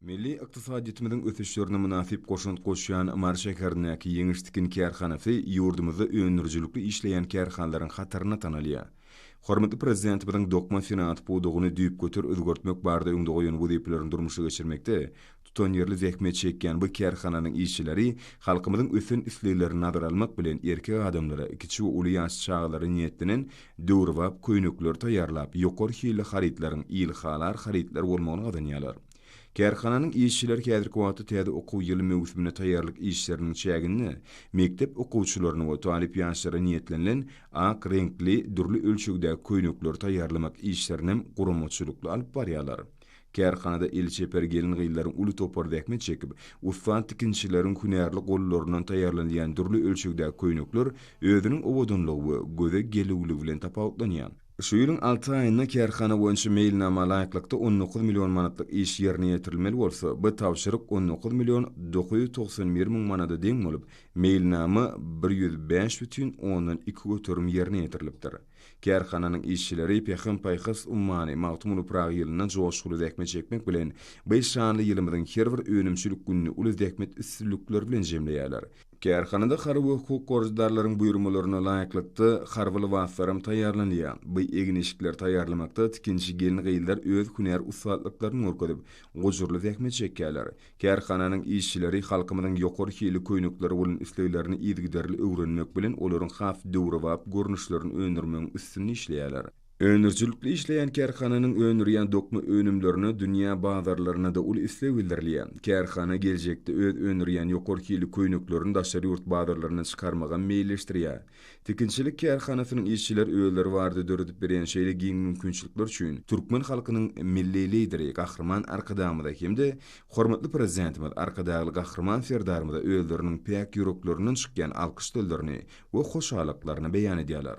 Milli ykdysadyýetimiziň ösüşlerine mynasyp goşant goşýan Mary şäherindäki Ýeňiş tikin kärhanasy ýurdumyzda öndürijilikli işleýän kärhanalaryň hatarynda tanalýar. Hormatly Prezidentimiziň dokma senagat pudagyny düýpgöter özgertmek barada öňde goýan wezipelerini durmuşa geçirmekde tutanýerli zähmet çekýän bu kärhananyň işçileri halkymyzyň ösen isleglerini nazara almak bilen erkek adamlara, kiçi we uly ýaşly çagalara niýetlenen döwrebap köýnekleri taýýarlap, ýokary hilli harytlaryň il halar harytlar bolmagyny gazanýarlar. Kärhananyň işçileri häzirki wagtda täze okuw ýyly möwsümine taýýarlyk işleriniň çäginde mekdep okuwçylaryna we talyp ýaşlara niýetlenilen ak reňkli, dürli ölçegdäki köýnekleri taýýarlamak işlerinem guramaçylykly alyp barýarlar. Kärhanada el çeper gelin-gyzlaryň uly topary zähmet çekip, ussat tikinçileriň hünärli gollaryndan taýýarlanylýan dürli ölçegdäki köýnekler özüniň owadanlygy we göze gelüwligi bilen tapawutlanýar. Şu ýylyň alty aýynda kärhana boýunça meýilnama laýyklykda on dokuz million manatlyk iş ýerine ýetirilmeli bolsa, bu tabşyryk on dokuz million dokuz ýüz togsan bir müň manada deň bolup, meýilnama bir ýüz bäş bütin ondan iki göterim ýerine ýetirilipdir. Kärhananyň işçileri Pähim-paýhas ummany Magtymguly Pyragy ýylynda joşguly zähmet çekmek bilen, bu şanly ýylymyzyň her bir önümçilik gününi uly zähmet üstünlikleri bilen jemleýärler. Kärhanada harby hukuk goraýjydarlaryň buýurmalaryna laýyklykda, harby lybaslaram taýýarlanylýar. Bu egin-eşikleri taýýarlamakda tikinçi gelin-gyzlar öz hünär ussatlyklaryny görkezip, gujurly zähmet çekýärler. Kärhananyň işçileri halkymyzyň ýokary hilli köýnekleri bolan isleglerini yzygiderli öwrenmek bilen, olaryň has döwrebap görnüşlerini öndürmegiň üstünde işleýärler. Öndürijilikli işleýän kärhananyň öndürýän dokma önümlerine dünýä bazarlarynda-da uly isleg bildirilýär. Kärhana geljekde öz öndürýän ýokary hilli köýneklerini daşary ýurt bazarlaryna çykarmagam meýilleşdirýär. Tikinçilik kärhanasynyň işçiler özleri barada döredip berýän şeýle giň mümkinçilikler üçin türkmen halkynyň Milli Lideri Gahryman Arkadagymyza hem-de hormatly Prezidentimiz Arkadagly Gahryman Serdarymyza özleriniň päk ýüreklerinden çykýan alkyş sözlerini we hoşallyklaryny beýan edýärler.